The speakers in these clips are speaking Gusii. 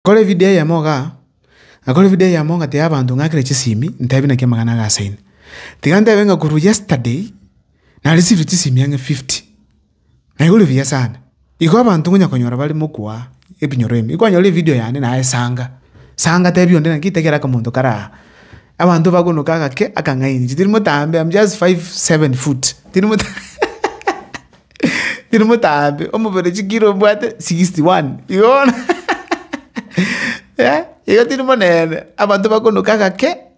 Kore evideo eyemo igaa, nakore evideo eyemo ng'atebi abanto ng'akire chisimi, ntebi naki amang'ana aga ase ime. Tiga ntebe ng'a korwa yesterday, narisivire chisimi ang'e fifty. Na igure buya sana. Igo abanto ngonya konyora bare mokwa aa ebinyoro ebi. Ikwanyora evideo yane naye sanga. Sanga tebi onde naki taiga raka omonto kare aa. Abanto bagonoka agake akang'aini. Chitiri motambe am just five seven foot. Tiri mota tiri motambe. Omobere chikiro mbwate sixty one. Igo bono igo tiri monene. Abanto bagonoka agake.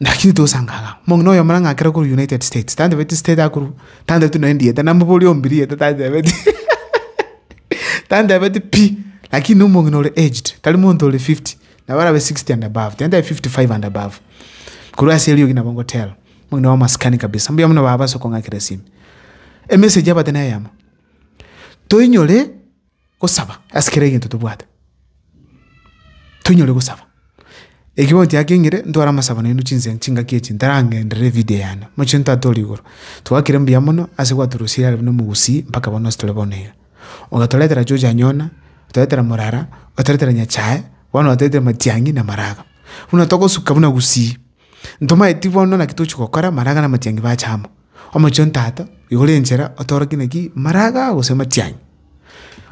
Naki titosangaaga, omong'ina oyomo nang'akere korwa United States, tantebetie state akorwa, tantebetie nonya erieta, namobori ombe rieta tantebetie, tantebetie pi, lakini omong'ina ore aged, tari monto ore fifty, nabo arabe sixty and above, tari ntabe fifty five and above. Korwa ase eriogi nabo ngotera, omong'ina bwa amasikani kabisa, mbuya mono baba ase okong'akera esimi. Emessage yabate neyemo, toinyore. gosaba ase kera egento tobwate, toinyore gosaba. Eki bono tiakengire ntware amasabo nainwe chinse chingaki echi ntarang'enderere evidio yane, mochie ntatore igoro. Twagakire mbuya mono ase gwatorosirie are buna omogusii mpaka bono ase tore bono iga. Ogatoretera George Anyona, otoretera Morara, otoretera Nyachae, bono otoretera Matiang'i na Maraga. Buna togosuka buna gusii. Ntomaeti bono naki tochi gokora, maraga na amatiang'i bache amo. Omochie o ntato, igora enchera otorokie naki maraga gose amatiang'i.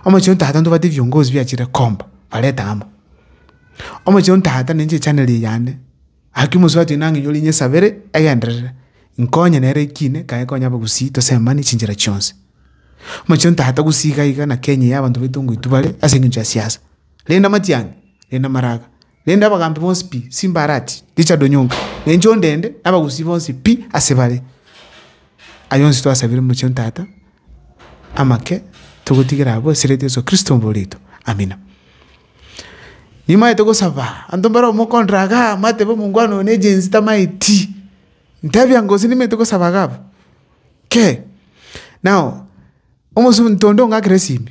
Omochie o ntato ntobwate ebiongozi biachire komba, bareta amo. Omochie o ntato ninche echaneli eye yane, aki omosubati oino ang'e nyore nyesabere egenderere, nkonye nere ekine kaye konye abagusii tosemani chinchera chionsi. Omochie o ntato gusii iga iga na Kenya eye abanto baito ngoitwa bare ase eng'encho ya siasa. Rende amatiang'i, rende amaraga. Naende abagaambi bonsi pi Simbarati, Richard Onyonka, na inche onde ende, na abagusii bonsi pi ase bare. Ayio onsi twasabire omochie o Tata amake, togotigera abwo ase rieta Yeso Kristo omobori oito. Amina. Nimaete gosaba, abanto mbare omokontra igaa, amatebe omongwana oyo na egenzi tamaeti, ntabia ngo gose nimaete gosaba iga abwo? Kei. Nao, omosunte onde ong'akera esimi.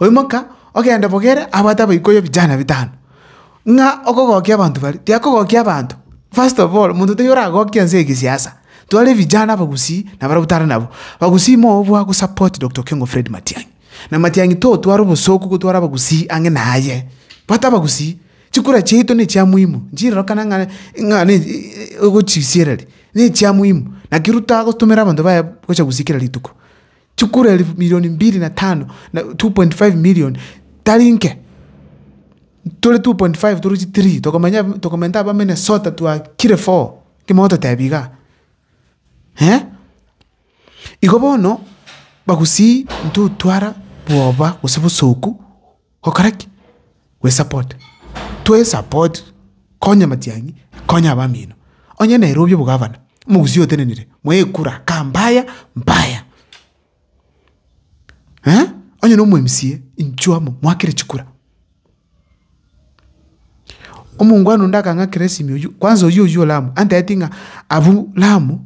Oimoka, ogende bogere abwate abaikuya vijana bitano, ng'a okogokia abanto baria. Tiakogokia abanto, first of all, monto taiyo oragokia ense egesiasa. Tware vijana abagusii nabarabwo tare nabo. Abagusii mooo bwa go support Doctor Okengo Fred Matiang'i. Na Matiang'i totware obosooku gotwara abagusii ang'e naye. Bwate abagusii, chikura chiaito ne chia muhimu, nchirerokana ng'a ng'a ne ogochisiera ri, ne chia muhimu. Naki ruta gotomera abanto baye gocha gusii kera rituko. Chikura elifu milioni mbiri na tano, na 2.5 million, tari nke. Tore 2.5 torochi three, tokomenya tokomenta aba Minnesota twakire four, ekemo ototebia igaa. Eh, igo bono, bagusii intotwara bwoba gose bosooku. Gokora ki? Gwesapota. Twesapoti, konya amatiang'i, konya abamino. Onye Nairobi obogavana, omogusii otenenire, mwekura, kaa mbaya, mbaya. Eh? Onye na omwMCA, inchuo amo, mwakere chikura. Omongwana onde akang'akera esimi oyio, kwanza oyio oyio o Lamu, anteeti ng'a abwo Lamu,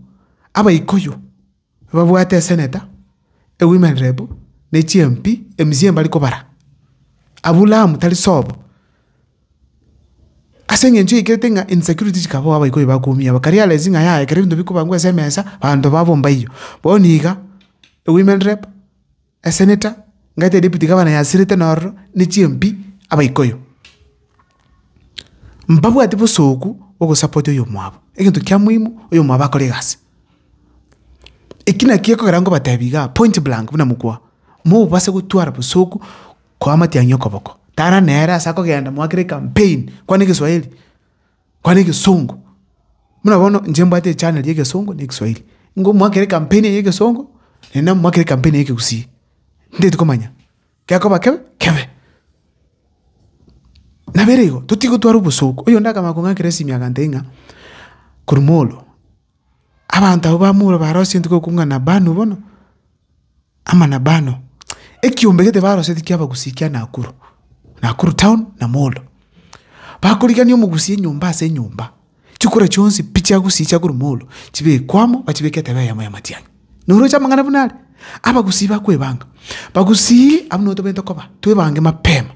abaikoyo, Babwate eseneta, ewomen rep, ne chiMP emisii mbari kobara Aburahamu tari sobo. Ase engencho yaikirete ng'a insecurity chikabao abaikoi bakoumia aba kari aresi ng'a yaya ekero ebinto bikobangwa ase emesa banto babomba eyio. Bono iga ewomen rep. Eseneta ngaeta edepiti gabana yasirete nororo ne chimpi Abaikuyu. Mbabwati bosooku bw'ogosapotia oyomwabo, egento kia moimu oyomwabo akore egasi. Eki naki ekogera ngobatebi igaa point blank buna mokwa, mobase gotwara bosooku koa matiang'i okoboko. Tara nere ase akogenda moakere ecampaign kwane egeswahili. kwana egesongo. Buna bono inche mbwate echaneli ya egesongo na egeswairi. Nigo mwakere campaign eye ya egesongo, naende nabo mwakere campaign eye ya ekegusii. Ntaeti komanya, gekoba kebe, kebe. Nabo ere igo, totigotwara obosooku. Oyonde akamanya kong'akera esimia agantebi ng'a, korwa molo. Abanto abwo bamorwa barosetwe okwo ng'a Nabanu bono, ama Nabano. Ekiombe gete barosetie kia abagusii kia Nakuru, Nakuru town na Molo. Bakorigania omogusii enyomba ase enyomba, chikura chionsi pi chiagusii chia korwa Molo, chibekwe amo bachibeke etebe eyemo ya matiang'i. Noroche amang'ana buna aria? Abagusii bakwebanga. Bagusii abwo nigo tobete koba, twebange mapema.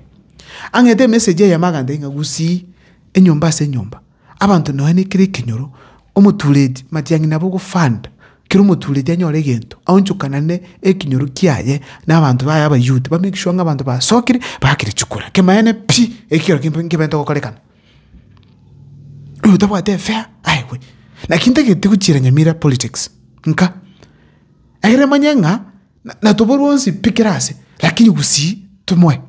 Ang'ete emessage eyemo agantebi ng'a gusii enyomba ase enyomba. Abanto nonya nekere ekenyoro, omotuureti matiang'ina abe ogofanda, kera omotuureti anyore egento, aonchokanane ekenyoro kiaye na abanto baye Abayuda, ba make sure ng'a abanto basokire bagakire chikura. Kemanyaine pi, ekio ekero kebe nkeberete gokorekana. Oyo otabwate efea, aegwe. Naki ntagete gochiera nyamira politics, nka. Egere emanye ng'a, na- natoborwe onsi pi kera ase, lakini gusii tomoe.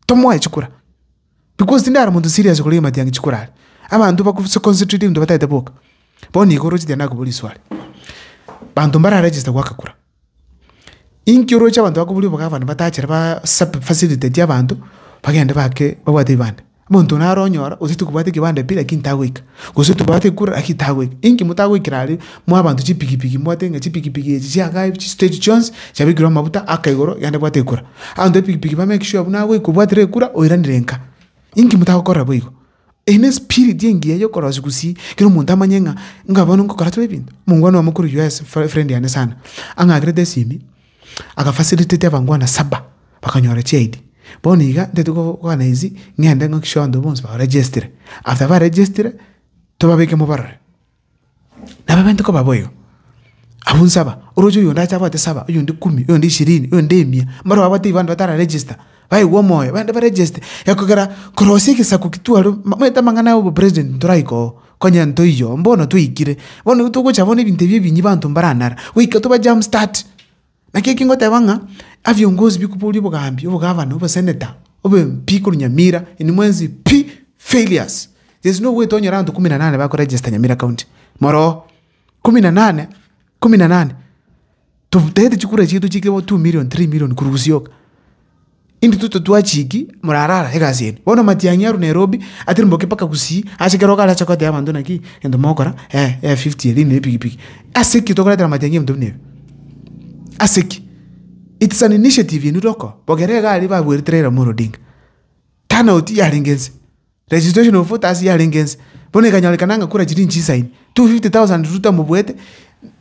Tomoe chikura, because tinde are omonto serious koria egima tiange chikura are. Abanto baku se concentrate ebinto bataete boka. Bono iga oroche tiende nakobua riswali. Banto mbara register goaka kura. Inki oroche abanto bakoburi obogavana batachere ba sub facilitate abanto, bagende baake babwate ebibande. Omonto naro onyora otagete kobwata ekebande pi lakini tagoika. Gose tobwate kore naki tagoika, inki motagoikera are mwa abanto chipigipigi, mbwate ng'a chipigipigi echi chiagae chisito echi chionsi, chiabekirwe amabuta aka igoro, yaani bwate ekura. Abanto b'epigipigi bame ekesio abwo nagoika obwatire ekura oiranire nka. Inki motagokorera boigo? Eye nespirit engiya yokorosia gusii, kera omonto amanye ng'a, inga bono ngokora tore ebinto. Omongwana oyomo korwa US, fre, friend yane sana, ang'akerete esimi, Agafacilitate abangwana saba bakanyora chi ID. Bono iga ntete koorganize ng'ende ng'akikishe abanto bonsi ba regestire. After ba regestire, tobabeke mobarore. Nabo bainto koba boigo. Abwo nsaba, oroche oyonde ache abwate saba, oyonde kumi, oyonde ishirini, oyonde emia. Mbaro abwate abanto batara register. baigwe omoyo, baende baregeste, ekogera korosia egesaku getwarwe, momanyete amang'ana aya obopresident ntoraika oo, konya ntoiyo, mbono twaikire, bono nigo togocha bono ebinto ebi ebinyi banto mbaranare, goika toba jam start. Naki eki ngoteba ng'a, abiongozi bikoboria obogambi, obogavana, oboseneta, obe MP korwa Nyamira, inwe mwensi pi! failures. Gese nigo ogoeta onyore abanto ikomi na nane bakoregesta Nyamira county, moroo, ikomi na nane, ikomi na nane. Totagete chikura chiaito chiike bo two million, three million korwa gosioka. Intwe totwachiki morarara egasi yaino. Bono matiang'i arwe Nairobi atirimoke mpaka Gusii, ase ekero okare acha koteba abanto naki, egento mogokora, eh ya fifty eria ne epikipiki. Ase ki tokoretera matiang'i ebinto buna ebi? Ase ki? It's an initiative yaino ere oko, bogere iga aria babuerete Raila Amolo Odinga. Turnout yarenge ense. The situation of others yarenge ense, bono ekanyorekana ng'a kura chiria inchicha ime, 250,000 rutamobuete,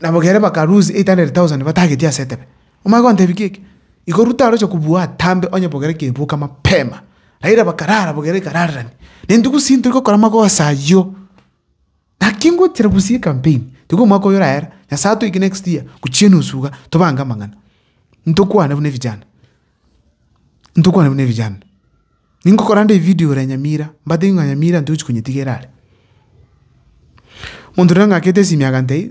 na bobe ere baka lose 800,000 batagetie ase etebe. Omanye gontebia ki eke? Igo Ruto aroche kobua atambe onye bobe ere ekeboka mapema. Raila bakarara bobe ere ekararerani. Neinto gusii ntori gokora magoso ayio. Naki ngochera bosio ekampeni, tiga omwaka oyo oragera, Nyasae atoike next year, gochia enusu iga, tobange amang'ana, ntokwane buna evijana, ntokwane buna evijana. Ningokora nde evidio ore Nyamira, mbatebi ng'a Nyamira ntochi konyetigera are. Monto riria ng'akete esimi agantebia,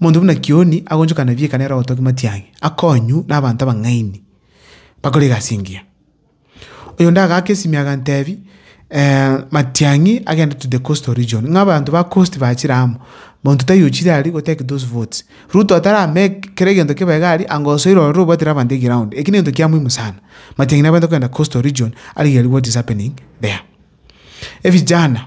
Omonto buna Kioni agochokana ebieka nere ogotogia matiang'i, akonywa nabaanto abang'aini bakore egasi engiya. Oyonde agaaka esimia agantebi, matiang'i agende to the coastal region, ng'a abanto ba coast bachire amo, monto taiyo ochire aria go take those votes. Ruto atara make kera egento kibe iga aria, anga osoire ororo obwate na abanto eground, eki negento kia muhimu sana. Matiang'i nabwenerete kogenda coastal region, arigere what is happening there. Evijana.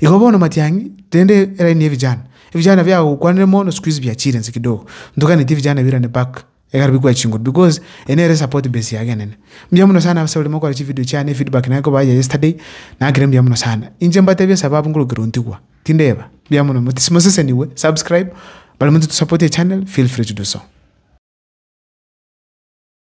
Igo bono matiang'i, rende eraini y'ebijana, ebijana biagokwanire mono siku hizi biachiire inse kidogo, ntoganetie ebijana ebirane back ekero bikwa chinguru because eye nere esapoti base yage enene. Mbuya mono sana ase oria mokora chividio chiane efeedback naye koba aye yesterday, nakire mbuya mono sana. Inche mbatebie esababu ngorokerwe ntigwa, tindeba, mbuya mono motis mosesenigwe, subscribe, baria motosapotie echannel feel free to do so.